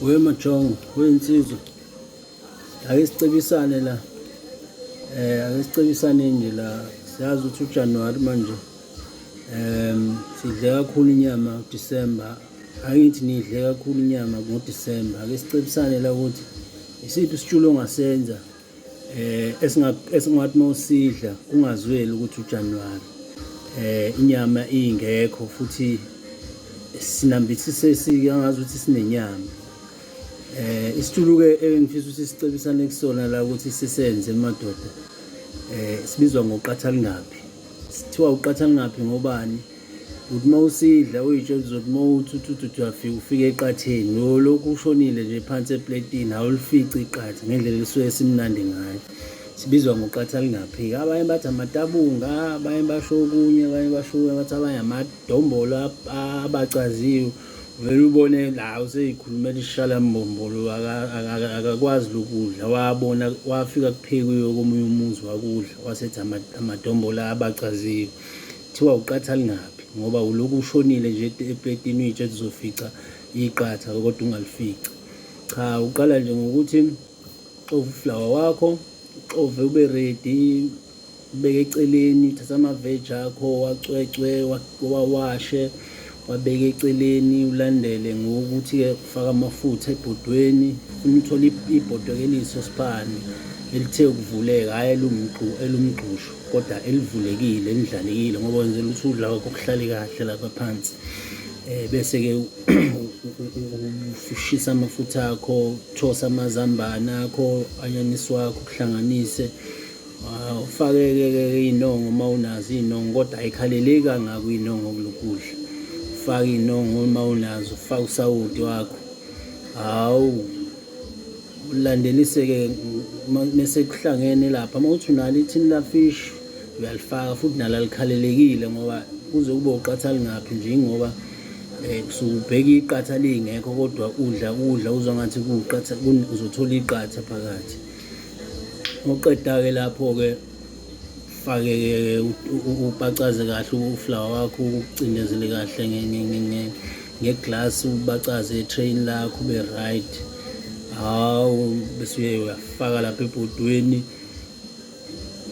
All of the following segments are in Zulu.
We Majongo, we insizwa. Ake sicebisane la. Eh ake sicebisane nje la. Siyazi ukuthi uJanuary manje. Ehm sidle kakhulu inyama uDecember. Angithi nidle kakhulu inyama ngoDecember. Ake sicebisane la ukuthi isiphi isitshulo ongasenza eh esingathi mawusidla ungazweli ukuthi uJanuary eh inyama ingekho futhi sinambithise sike angazi ukuthi sinenyama eh isitulu ke engifisa ukuthi sicebisane kusona la ukuthi sisenze madoda eh sibizwa ngoqatha lingaphi sithiwa uqatha lingaphi ngobani uthi uma usidla uyitshela uzothi uma uthi uthi uthi uyafika ufike eqatheni lokhu ushonile nje phansi epletini awulifici iqatha ngendlela elisuke simnandi ngayo sibizwa ngoqatha lingaphiki abanye bathi amatabunga abanye basho okunye abanye basho okunye bathi abanye amadombolo abacaziwe vele ubone la useyikhulumela isishala mbombolo akakwazi lokudla wabona wafika kuphekiwe komunye umuzi wakudla wasethi amadombolo abacaziwe Kuthiwa uqatha lingaphi ngoba ulokhu ushonile nje epletini uyitshe ukuthi uzofica iqatha kodwa ungalifici. Cha uqala nje ngokuthi uxove uflawa wakho, uxove ube ready, ubeke eceleni, uthatha ama-veg akho, wacwecwe, wawashe, Wabeka eceleni ulandele ngokuthi-ke ufaka amafutha ebhodweni funa uthole ibhodwe keliso sipani elithe ukuvuleka hhayi elumgxushu kodwa elivulekile elidlalekile ngoba wenzela ukuthi udla kwakho kuhlale kahle lapha phansi um bese-ke ushisa amafutha akho those amazambane akho anyanisi wakho kuhlanganise Ah, ufakeke-ke iy'nongo uma unazo iy'nongo kodwa ayikhaleleki kangako iy'nongo kulokudla ufake iy'nongo uma unazo ufake usawoti wakho hawu ulandeliseke mese kuhlangene lapha uma uthi unalo ithini lafish uyalifaka futhi nalo alikhalelekile ngoba kuze kube uqatha lingaphi nje ingoba um eh, kusuke ubheke iqatha lingekho kodwa udla kudla uzwa ngathi kuwuqatha uzothola iqatha phakathi uqeda-ke lapho-ke fake-ke ubacaze kahle uflawa wakho ucindezele kahle ngeglasi ubacaze etrain lakho ube right hawu bese uye uyafaka lapha ebhodweni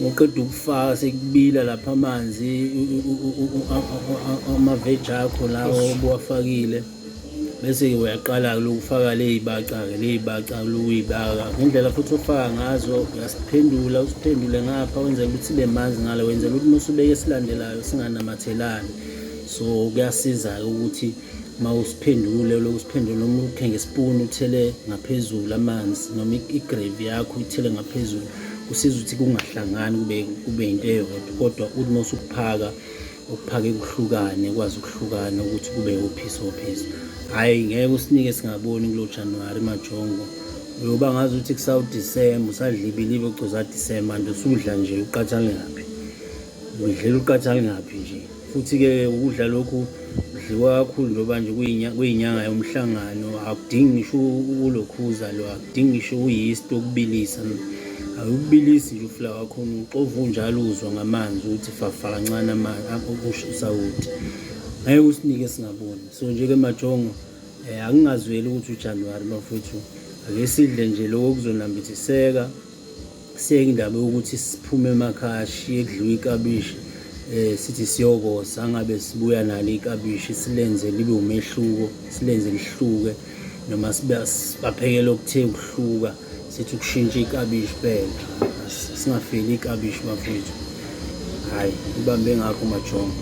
ngoqeda ukufaka sekubila lapha amanzi amaveji akho lawo obuwafakile bese-ke uyaqala-ke lokufaka ley'baca-ke ley'baca lokuyibaka ngendlela futhi ofaka ngazo uyasiphendula usiphendule ngapha wenzela ukuthi sibe manzi ngale wenzela ukuthi uma usubeke esilandelayo singanamathelani so kuyasiza-ke ukuthi uma usiphendule loku siphendule noma ukhe ngesipuni uthele ngaphezulu amanzi noma igrevi yakho uthele ngaphezulu kusiza ukuthi kungahlangani kube kube into eyodwa kodwa uthi uma usukuphaka ukuphake kuhlukane kwazi ukuhlukana ukuthi kube ophisi ophisi hhayi ngeke usinike singaboni kulo januwari majongo uyoba ngazi ukuthi kusawudisemba usadla ibilibe ucoza disemba nto usudla nje uqathale ngaphi udlela uqathale ngaphi nje futhi-ke ukudla lokhu kudliwa kakhulu njengoba nje kuyinyanga yomhlangano akudingi ngisho ulokhuza lo akudingi ngisho uyisti okubilisa awubilisi nje ufula wakhona uxova unjalo uzwa ngamanzi ukuthi fafa kancane amanzi akusho usawuthi ngeke usinike singaboni so nje ke majongo eh akungazweli ukuthi uJanuary bafuthu ake sidle nje lokho kuzonambithiseka siyeke indaba yokuthi siphume emakhaya shiye kudliwa ikabishi eh sithi siyokosa angabe sibuya nalo ikabishi silenze libe umehluko silenze lihluke noma sibaphekela okuthe ukuhluka sithi ukushintsha ikabishi phela singafeli ikabishi bafethu hhayi ibambe ngakho majongo